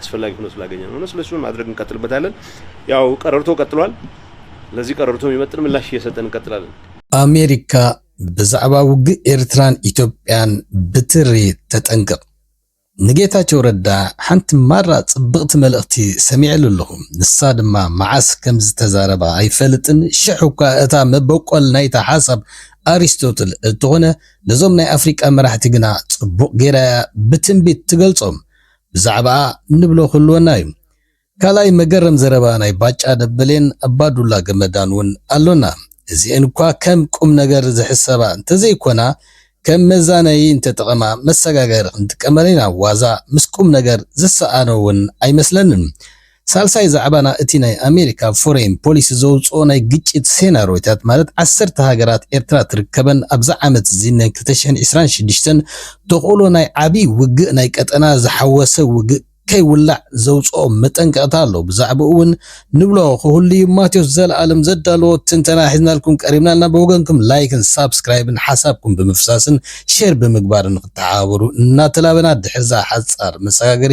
አስፈላጊ ሆኖ ስላገኘነው ነው። ስለሱ ማድረግ እንቀጥልበታለን። ያው ቀረርቶ ቀጥሏል። ለዚህ ቀረርቶ የሚመጥን ምላሽ እየሰጠን እንቀጥላለን። ኣሜሪካ ብዛዕባ ውግእ ኤርትራን ኢትዮጵያን ብትሪ ተጠንቅቕ። ንጌታቸው ረዳ ሓንቲ ማራ ጽብቕቲ መልእኽቲ ሰሚዐሉ ኣለኹ፣ ንሳ ድማ መዓስ ከም ዝተዛረባ ኣይፈልጥን፣ ሽሕ እኳ እታ መበቆል ናይታ ሓሳብ ኣሪስቶትል እትኾነ ነዞም ናይ ኣፍሪቃ መራሕቲ ግና ጽቡቕ ጌራ እያ ብትንቢት ትገልጾም። ብዛዕባኣ እንብሎ ክህልወና እዩ። ካልኣይ መገረም ዘረባ ናይ ባጫ ደበሌን ኣባዱላ ገመዳን ውን ኣሎና። እዚኤን እኳ ከም ቁምነገር ዝሕሰባ እንተዘይኮና ከም መዛነዪ እንተጠቐማ መሰጋገሪ ክንጥቀመን ኢና ዋዛ ምስ ቁምነገር ዝሰኣኖ ውን ኣይመስለንን። ሳልሳይ ዛዕባና እቲ ናይ ኣሜሪካ ፎረይን ፖሊሲ ዘውጽኦ ናይ ግጭት ሴናርዮታት ማለት ዓሰርተ ሃገራት ኤርትራ ትርከበን ኣብዛ ዓመትዚ ን ክልተ ሽሕን ዕስራን ሽዱሽተን ተኽእሎ ናይ ዓቢ ውግእ ናይ ቀጠና ዝሓወሰ ውግእ ከይውላዕ ዘውጽኦ መጠንቀቕታ ኣሎ ብዛዕብኡ ውን ንብሎ ክህሉዩ ማቴዎስ ዘላለም ዘዳለዎ ትንተና ሒዝናልኩም ቀሪብና ኣልና ብወገንኩም ላይክን ሳብስክራይብን ሓሳብኩም ብምፍሳስን ሼር ብምግባርን ንክትሓባበሩ እናተላበና ድሕሪዛ ሓጻር መሰጋገሪ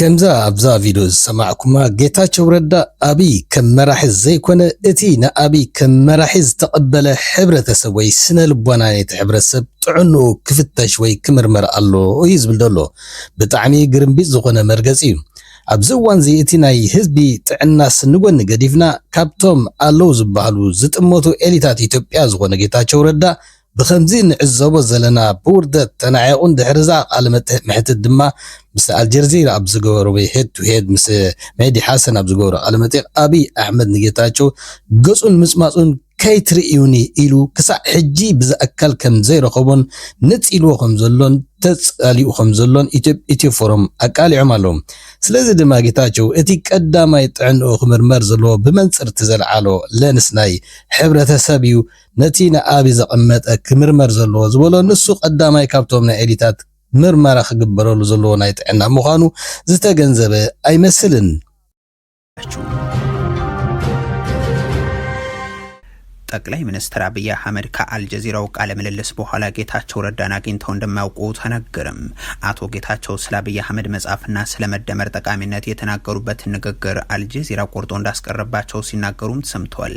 ከምዛ ኣብዛ ቪድዮ ዝሰማዕኩማ ጌታቸው ረዳ ኣብይ ከም መራሒ ዘይኮነ እቲ ንኣብይ ከም መራሒ ዝተቐበለ ሕብረተሰብ ወይ ስነልቦና ናይቲ ሕብረተሰብ ጥዕንኡ ክፍተሽ ወይ ክምርመር ኣሎ እዩ ዝብል ዘሎ ብጣዕሚ ግርምቢጥ ዝኾነ መርገፂ እዩ ኣብዚ እዋንዚ እቲ ናይ ህዝቢ ጥዕናስ ንጎኒ ገዲፍና ካብቶም ኣለው ዝበሃሉ ዝጥመቱ ኤሊታት ኢትዮጵያ ዝኾነ ጌታቸው ረዳ ብኸምዚ እንዕዘቦ ዘለና ብውርደት ተናዒቑ ድሕሪ'ዛ ቃለ መሕትት ድማ ምስ ኣልጀርዚራ ኣብ ዝገበርዊ ሄድ ቱ ሄድ ምስ ሜህዲ ሓሰን ኣብ ዝገበሮ ቃለ መጠይቕ ኣብይ ኣሕመድ ንጌታቸው ገጹን ምጽማጹን ከይትርእዩኒ ኢሉ ክሳዕ ሕጂ ብዝኣከል ከም ዘይረኸቦን ንጽ ኢልዎ ከም ዘሎን ተጻሊኡ ከም ዘሎን ኢትዮ ፎረም ኣቃሊዖም ኣለዉ። ስለዚ ድማ ጌታቸው እቲ ቀዳማይ ጥዕንኡ ክምርመር ዘለዎ ብመንጽር'ቲ ዘልዓሎ ለንስ ናይ ሕብረተ ሰብ እዩ ነቲ ንኣቢ ዘቐመጠ ክምርመር ዘለዎ ዝበሎ ንሱ ቀዳማይ ካብቶም ናይ ኤሊታት ምርመራ ክግበረሉ ዘለዎ ናይ ጥዕና ምዃኑ ዝተገንዘበ ኣይመስልን። ጠቅላይ ሚኒስትር ኣብይ ኣሕመድ ከኣልጀዚራው ቃለ ምልልስ በኋላ ጌታቸው ረዳን አግኝተው እንደማያውቁ ተነገርም። አቶ ጌታቸው ስለ አብይ አህመድ መጽሐፍና ስለ መደመር ጠቃሚነት የተናገሩበትን ንግግር አልጀዚራ ቆርጦ እንዳስቀረባቸው ሲናገሩም ተሰምተዋል።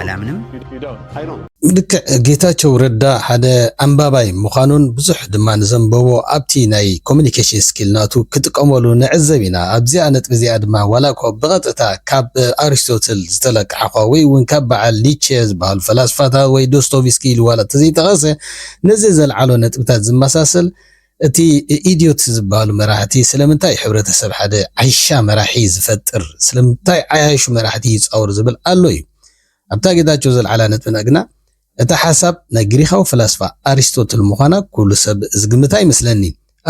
ኣላምንም። ልክዕ ጌታቸው ረዳ ሓደ ኣንባባይ ምዃኑን ብዙሕ ድማ ንዘንበቦ ኣብቲ ናይ ኮሙኒኬሽን ስኪል ናቱ ክጥቀመሉ ንዕዘብ ኢና። ኣብዚኣ ነጥቢ እዚኣ ድማ ዋላኳ ብቐጥታ ካብ ኣሪስቶትል ዝተለቃሕኳ ወይ እውን ካብ በዓል ኒቼ ዝበሃሉ ፈላስፋታት ወይ ዶስቶቭስኪ ኢሉ ዋላ እንተዘይጠቐሰ ነዚ ዘልዓሎ ነጥብታት ዝመሳሰል እቲ ኢድዮት ዝብሃሉ መራሕቲ ስለምንታይ ሕብረተሰብ ሓደ ዓይሻ መራሒ ዝፈጥር ስለምታይ ዓያሹ መራሕቲ ይጻወር ዝብል ኣሎ እዩ ኣብታ ጌታቸው ዘልዓላ ነጥብና ግና እታ ሓሳብ ናይ ግሪኻዊ ፈላስፋ ኣሪስቶትል ምዃና ኩሉ ሰብ ዝግምታ ኣይመስለኒ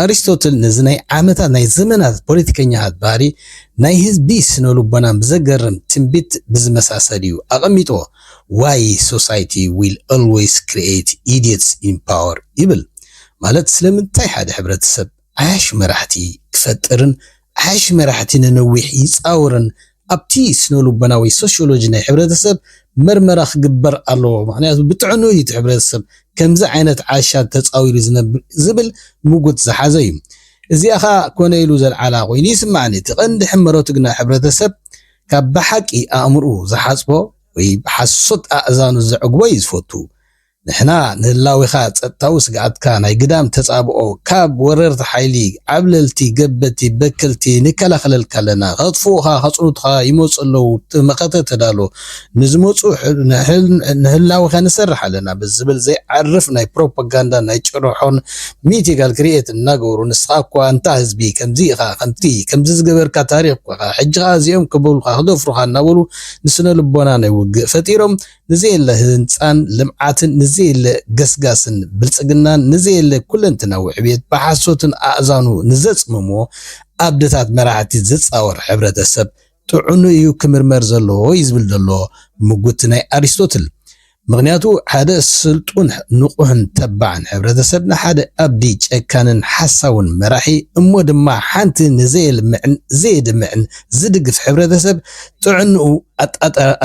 ኣሪስቶትል ነዚ ናይ ዓመታት ናይ ዘመናት ፖለቲከኛታት ባህሪ ናይ ህዝቢ ስነልቦናን ብዘገርም ትንቢት ብዝመሳሰል እዩ ኣቐሚጥዎ ዋይ ሶሳይቲ ዊል ኣልወይስ ክሪኤት ኢዲየትስ ኢን ፓወር ይብል ማለት ስለምንታይ ሓደ ሕብረተሰብ ዓያሹ መራሕቲ ክፈጥርን ዓያሹ መራሕቲ ንነዊሕ ይጻወርን ኣብቲ ስነልቦና ወይ ሶሽዮሎጂ ናይ ሕብረተሰብ መርመራ ክግበር ኣለዎ ምኽንያቱ ብጥዕንኡ እዩ እቲ ሕብረተሰብ ከምዚ ዓይነት ዓሻ ተጻዊሩ ዝነብር ዝብል ምጉት ዝሓዘ እዩ እዚኣ ከኣ ኮነ ኢሉ ዘልዓላ ኮይኑ ይስማዓኒ እቲ ቀንዲ ሕመረቱ ግና ሕብረተሰብ ካብ ብሓቂ ኣእምርኡ ዝሓጽቦ ወይ ብሓሶት ኣእዛኑ ዘዕግቦ እዩ ዝፈቱ። ንሕና ንህላዌኻ ጸጥታዊ ስግኣትካ ናይ ግዳም ተጻብኦ ካብ ወረርቲ ሓይሊ ዓብለልቲ ገበቲ በከልቲ ንከላኸለልካ ኣለና ከጥፍኡኻ ከጽኑቱኻ ይመጹ ኣለዉ መኸተ ተዳሎ ንዝመጹ ንህላዌኻ ንሰርሕ ኣለና ብዝብል ዘይዓርፍ ናይ ፕሮፓጋንዳን ናይ ጭርሖን ሚእቲ ጋል ክርየት እናገበሩ ንስኻ እኳ ኣንታ ህዝቢ ከምዚ ኢኻ ከምቲ ከምዚ ዝገበርካ ታሪኽ እኳ ኢኻ ሕጂ ከኣ እዚኦም ከበሉኻ ክደፍሩኻ እናበሉ ንስነልቦና ናይ ውግእ ፈጢሮም ንዘየለ ህንጻን ልምዓትን ንዘየለ ገስጋስን ብልጽግናን ንዘየለ ኩለንትናዊ ዕብየት ብሓሶትን ኣእዛኑ ንዘጽመሞ ኣብድታት መራሕቲ ዝጻወር ሕብረተሰብ ጥዑኑ እዩ ክምርመር ዘለዎ እዩ ዝብል ዘሎ ምጉት ናይ ኣሪስቶትል። ምኽንያቱ ሓደ ስልጡን ንቑሕን ተባዕን ሕብረተሰብ ንሓደ ኣብዲ ጨካንን ሓሳውን መራሒ እሞ ድማ ሓንቲ ንዘየልምዕን ዘየድምዕን ዝድግፍ ሕብረተሰብ ጥዕንኡ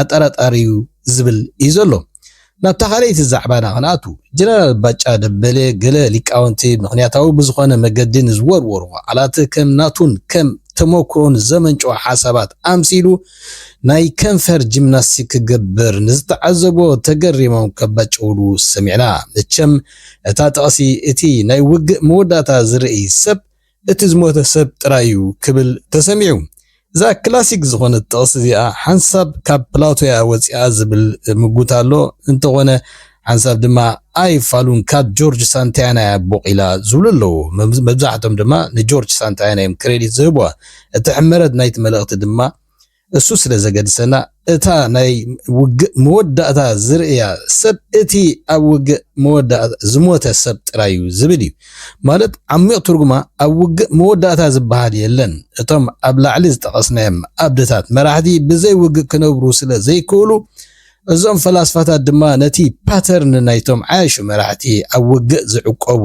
ኣጠራጣሪዩ ዝብል እዩ ዘሎ። ናብታ ካልኣይቲ ዛዕባና ክንኣቱ፣ ጀነራል ባጫ ደበሌ ገለ ሊቃውንቲ ምኽንያታዊ ብዝኾነ መገዲ ንዝወርወርዎ ቃላት ከም ናቱን ከም ተመኩሮን ዘመንጨዎ ሓሳባት ኣምሲሉ ናይ ከንፈር ጂምናስቲክ ክገብር ንዝተዓዘቦ ተገሪሞም ከባጭውሉ ሰሚዕና። መቸም እታ ጥቕሲ እቲ ናይ ውግእ መወዳእታ ዝርእይ ሰብ እቲ ዝሞተ ሰብ ጥራይ እዩ ክብል ተሰሚዑ። እዛ ክላሲክ ዝኾነት ጥቕሲ እዚኣ ሓንሳብ ካብ ፕላቶ እያ ወጺኣ ዝብል ምጉት ኣሎ። እንተኾነ ሓንሳብ ድማ ኣይ ፋሉን ካብ ጆርጅ ሳንታያና እያ ቦቒላ ዝብሉ ኣለዉ። መብዛሕቶም ድማ ንጆርጅ ሳንታያና እዮም ክሬዲት ዝህቡዋ። እቲ ሕመረት ናይቲ መልእኽቲ ድማ፣ እሱ ስለ ዘገድሰና እታ ናይ ውግእ መወዳእታ ዝርእያ ሰብ እቲ ኣብ ውግእ መወዳእታ ዝሞተ ሰብ ጥራይ እዩ ዝብል እዩ። ማለት ዓሚቕ ትርጉማ ኣብ ውግእ መወዳእታ ዝበሃል የለን። እቶም ኣብ ላዕሊ ዝጠቐስናዮም ኣብነታት መራሕቲ ብዘይ ውግእ ክነብሩ ስለ ዘይክእሉ፣ እዞም ፈላስፋታት ድማ ነቲ ፓተርን ናይቶም ዓያሹ መራሕቲ ኣብ ውግእ ዝዕቆቡ፣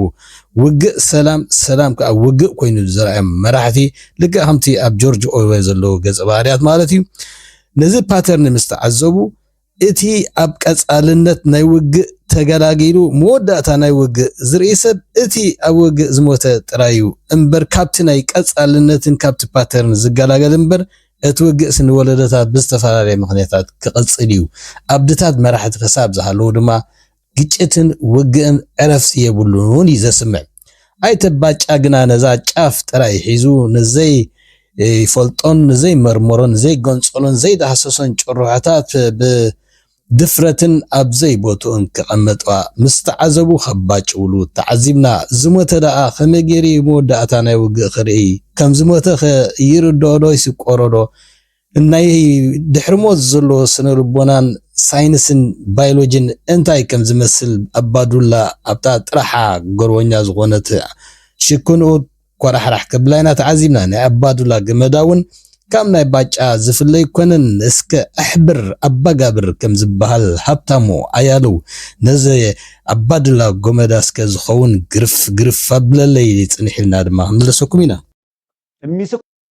ውግእ ሰላም፣ ሰላም ከኣ ውግእ ኮይኑሉ ዝረኣዮም መራሕቲ፣ ልክዕ ከምቲ ኣብ ጆርጅ ኦርዌል ዘለዉ ገጸ ባህርያት ማለት እዩ፣ ነዚ ፓተርን ምስ ተዓዘቡ፣ እቲ ኣብ ቀጻልነት ናይ ውግእ ተገላጊሉ መወዳእታ ናይ ውግእ ዝርኢ ሰብ እቲ ኣብ ውግእ ዝሞተ ጥራይ እዩ እምበር ካብቲ ናይ ቀጻልነትን ካብቲ ፓተርን ዝገላገል እምበር እቲ ውግእሲ ንወለዶታት ብዝተፈላለየ ምኽንያታት ክቕጽል እዩ። ኣብድታት መራሕቲ ክሳብ ዝሃለዉ ድማ ግጭትን ውግእን ዕረፍቲ የብሉን እውን እዩ ዘስምዕ። ኣይተ ባጫ ግና ነዛ ጫፍ ጥራይ ሒዙ ንዘይፈልጦን ንዘይመርመሮን ዘይገንጸሎን ዘይዳህሰሶን ጭርሖታት ብ ድፍረትን ኣብ ዘይ ቦትኡን ክቅመጥዋ ምስ ተዓዘቡ ከባጭውሉ ተዓዚብና ዝሞተ ደኣ ከመይ ገይሩ እዩ መወዳእታ ናይ ውግእ ክርእይ ከም ዝሞተ ከ ይርድኦ ዶ ይስቆሮ ዶ ናይ ድሕሪ ሞት ዘሎ ስነ ልቦናን ሳይንስን ባይሎጅን እንታይ ከም ዝመስል ኣባዱላ ኣብታ ጥራሓ ጎርወኛ ዝኮነት ሽክንኡት ኳራሕራሕ ከብላ ኢና ተዓዚብና ናይ ኣባዱላ ገመዳ ውን ካብ ናይ ባጫ ዝፍለ ኣይኮነን እስከ ኣሕብር ኣባጋብር ከም ዝባሃል ሃብታሙ ኣያልው ነዚ ኣባዱላ ጎመዳ እስከ ዝከውን ግርፍ ግርፍ ኣብለለይ ጽንሕ ኢልና ድማ ክንምለሰኩም ኢና።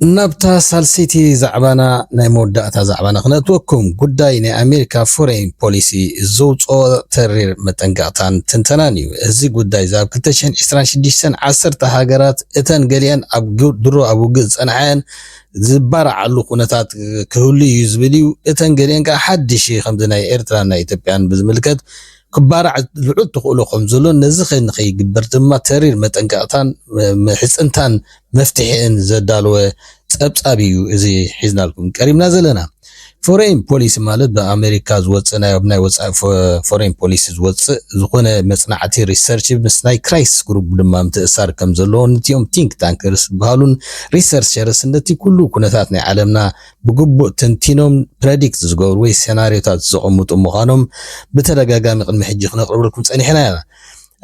ናብታ ሳልሰይቲ ዛዕባና ናይ መወዳእታ ዛዕባና ክነእትወኩም፣ ጉዳይ ናይ ኣሜሪካ ፎረይን ፖሊሲ ዘውጽኦ ተሪር መጠንቀቕታን ትንተናን እዩ። እዚ ጉዳይ እዚ ኣብ ክልተ ሽሕን ዕስራን ሽዱሽተን ዓሰርተ ሃገራት እተን ገሊኤን ኣብ ድሮ ኣብ ውግእ ዝጸንሓ'የን ዝባርዓሉ ኩነታት ክህሉ እዩ ዝብል እዩ። እተን ገሊኤን ከኣ ሓድሽ ከምዚ ናይ ኤርትራን ናይ ኢትዮጵያን ብዝምልከት ክባራዕ ልዑል ተኽእሎ ከም ዘሎን ነዚ ከይግበር ድማ ተሪር መጠንቀቕታን ምሕጽንታን መፍትሒእን ዘዳለወ ፀብፃብ እዩ እዚ ሒዝናልኩም ቀሪብና ዘለና። ፎረይን ፖሊሲ ማለት ብኣመሪካ ዝወፅእ ናይ ኣብ ናይ ወፃኢ ፎረይን ፖሊሲ ዝወፅእ ዝኾነ መፅናዕቲ ሪሰርች ምስ ናይ ክራይስ ግሩፕ ድማ ምትእሳር ከም ዘለዎ ንቲኦም ቲንክ ታንክርስ ዝበሃሉን ሪሰርቸርስ ነቲ ኩሉ ኩነታት ናይ ዓለምና ብግቡእ ተንቲኖም ፕረዲክት ዝገብሩ ወይ ሴናሪዮታት ዘቐምጡ ምዃኖም ብተደጋጋሚ ቅድሚ ሕጂ ክነቕርበልኩም ፀኒሕና ኢና።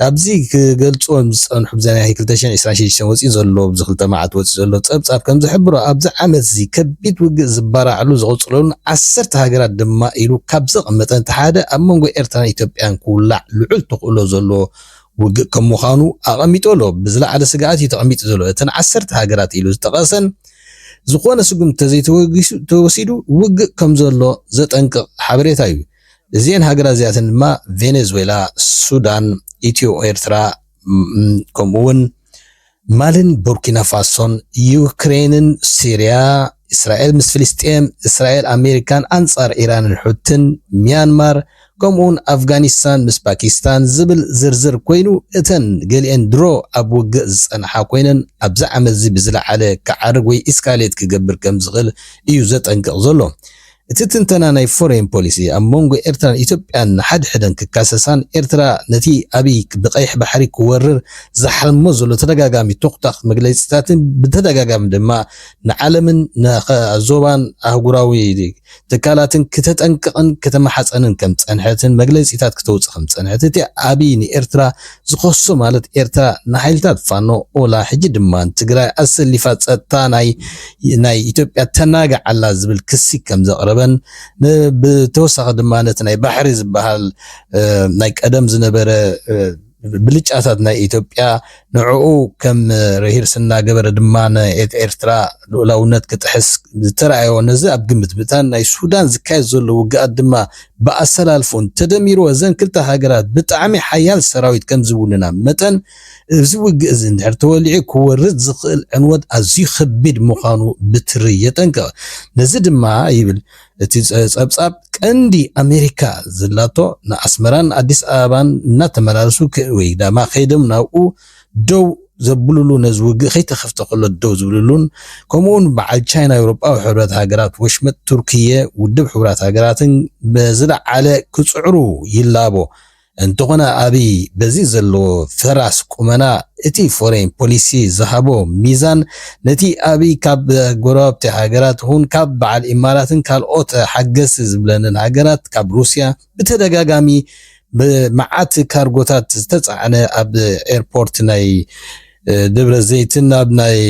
ኣብዚ ክገልጹዎም ዝጸንሑ ብዘይ ናይ ክልተ ሽሕን ዕስራን ሽዱሽተን ወጺኡ ዘሎ ኣብዚ ክልተ መዓልቲ ወጺኡ ዘሎ ጸብጻብ ከም ዝሕብሮ ኣብዚ ዓመትዚ ከቢድ ውግእ ዝበራዕሉ ዝቕጽለሉን ዓሰርተ ሃገራት ድማ ኢሉ ካብ ዘቐመጠን እቲ ሓደ ኣብ መንጎ ኤርትራን ኢትዮጵያን ክውላዕ ልዑል ተኽእሎ ዘለዎ ውግእ ከም ምዃኑ ኣቐሚጡ ኣሎ ብዝለዓለ ስግኣት እዩ ተቐሚጡ ዘሎ እተን ዓሰርተ ሃገራት ኢሉ ዝጠቐሰን ዝኾነ ስጉምቲ ተዘይተወሲዱ ውግእ ከም ዘሎ ዘጠንቅቕ ሓበሬታ እዩ እዚኤን ሃገራት እዚኣተን ድማ ቬኔዝዌላ፣ ሱዳን፣ ኢትዮ ኤርትራ ን ከምኡ ውን ማሊን ቡርኪና ፋሶን፣ ዩክሬንን ሲርያ፣ እስራኤል ምስ ፍልስጤም፣ እስራኤል ኣሜሪካን ኣንጻር ኢራንን ሑቲን፣ ሚያንማር፣ ከምኡ ውን ኣፍጋኒስታን ምስ ፓኪስታን ዝብል ዝርዝር ኮይኑ እተን ገሊኤን ድሮ ኣብ ውግእ ዝጸንሓ ኮይነን ኣብዚ ዓመትዚ ብዝለዓለ ክዓርግ ወይ ኢስካሌት ክገብር ከምዝኽእል እዩ ዘጠንቅቕ ዘሎ። እቲ ትንተና ናይ ፎረይን ፖሊሲ ኣብ መንጎ ኤርትራን ኢትዮጵያን ንሓድሕደን ክካሰሳን ኤርትራ ነቲ ኣብይ ብቀይሕ ባሕሪ ክወርር ዝሓልሞ ዘሎ ተደጋጋሚ ቶኽታኽ መግለጺታትን ብተደጋጋሚ ድማ ንዓለምን ንዞባን ኣህጉራዊ ትካላትን ክተጠንቅቕን ክተማሓጸንን ከምዝጸንሐትን መግለጺታት ክተውጽእ ከምዝጸንሐት እቲ ኣብይ ንኤርትራ ዝኸሶ ማለት ኤርትራ ንሓይልታት ፋኖ ኦላ ሕጂ ድማ ንትግራይ ኣሰሊፋ ጸጥታ ናይ ናይ ኢትዮጵያ ተናግዕ ኣላ ዝብል ክሲ ከም ዘቕረበን ን ብተወሳኺ ድማ ነቲ ናይ ባሕሪ ዝበሃል ናይ ቀደም ዝነበረ ብልጫታት ናይ ኢትዮጵያ ንዕኡ ከም ርሂርስ እናገበረ ድማ ናይ ኤርትራ ልኡላውነት ክጥሕስ ዝተራእዮ ነዚ ኣብ ግምት ብምእታን ናይ ሱዳን ዝካየድ ዘሎ ውግኣት ድማ ብኣሰላልፎን ተደሚሩ እዘን ክልተ ሃገራት ብጣዕሚ ሓያል ሰራዊት ከምዝውንና መጠን እዚ ውግእ እዚ እንድሕር ተወሊዑ ክወርድ ዝኽእል ዕንወት ኣዝዩ ከቢድ ምዃኑ ብትሪ የጠንቅቕ። ነዚ ድማ ይብል እቲ ጸብጻብ ቀንዲ ኣሜሪካ ዘላቶ ንኣስመራን ኣዲስ ኣበባን እናተመላለሱ ወይ ዳማ ከይዶም ናብኡ ደው ዘብሉሉ ነዚ ውግእ ከይተኸፍተ ከሎ ደው ዝብሉሉን ከምኡውን በዓል ቻይና ኣውሮጳዊ ሕብረት ሃገራት ወሽመጥ ቱርክየ ውድብ ሕቡራት ሃገራትን ብዝለዓለ ክጽዕሩ ይላቦ እንተኾነ ኣብይ በዚ ዘለዎ ፈራስ ቁመና እቲ ፎሬን ፖሊሲ ዝሃቦ ሚዛን ነቲ ኣብይ ካብ ጎረባብቲ ሃገራት ኹን ካብ በዓል ኢማራትን ካልኦት ሓገዝቲ ዝብለንን ሃገራት ካብ ሩስያ ብተደጋጋሚ ብመዓት ካርጎታት ዝተፃዕነ ኣብ ኤርፖርት ናይ ደብረዘይትን ኣብ ናይ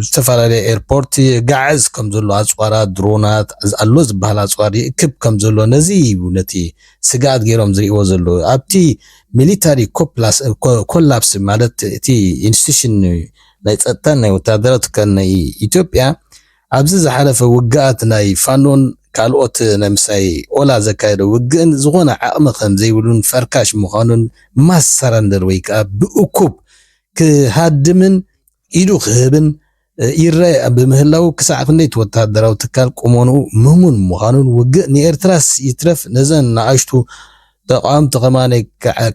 ዝተፈላለየ ኤርፖርት ጋዕዝ ከም ዘሎ ኣፅዋራ ድሮናት ኣሎ ዝበሃል ኣፅዋር ይእክብ ከም ዘሎ ነዚ እዩ ነቲ ስግኣት ገይሮም ዝርእዎ ዘለዉ ኣብቲ ሚሊታሪ ኮላፕስ ማለት እቲ ኢንስቲቱሽን ናይ ፀጥታን ናይ ወታደራት ናይ ኢትዮጵያ ኣብዚ ዝሓለፈ ውግኣት ናይ ፋኖን ካልኦት ናይ ምሳይ ኦላ ዘካየዶ ውግእን ዝኾነ ዓቕሚ ከም ዘይብሉን ፈርካሽ ምዃኑን ማስ ሰረንደር ወይ ከኣ ብእኩብ ክሃድምን ኢዱ ክህብን ይረኣ ብምህላዉ ክሳዕ ክንደይ እቲ ወተሃደራዊ ትካል ቁመንኡ ምሙን ምዃኑን ውግእ ንኤርትራስ ይትረፍ ነዘን ንኣሽቱ ተቓወምቲ ከማነይ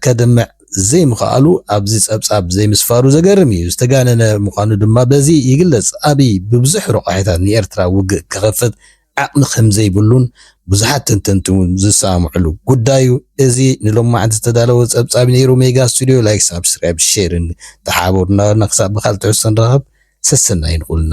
ከድምዕ ዘይምኽኣሉ ኣብዚ ጸብጻብ ዘይምስፋሩ ዘገርም እዩ። ዝተጋነነ ምዃኑ ድማ በዚ ይግለጽ። ኣብይ ብብዙሕ ረቋሒታት ንኤርትራ ውግእ ክኸፍት ዓቕሚ ከምዘይብሉን ብዙሓት ተንተንቲ እውን ዝሰማምዕሉ ጉዳዩ። እዚ ንሎማዕንቲ ዝተዳለወ ጸብጻብ ነይሩ። ሜጋ ስቱድዮ ላይክ ሳብስክራይብ ሼርን ተሓባበሩና በልና ክሳብ ብካልእ ትሕዝቶ ንራኸብ ሰሰናዩ ንኹልና።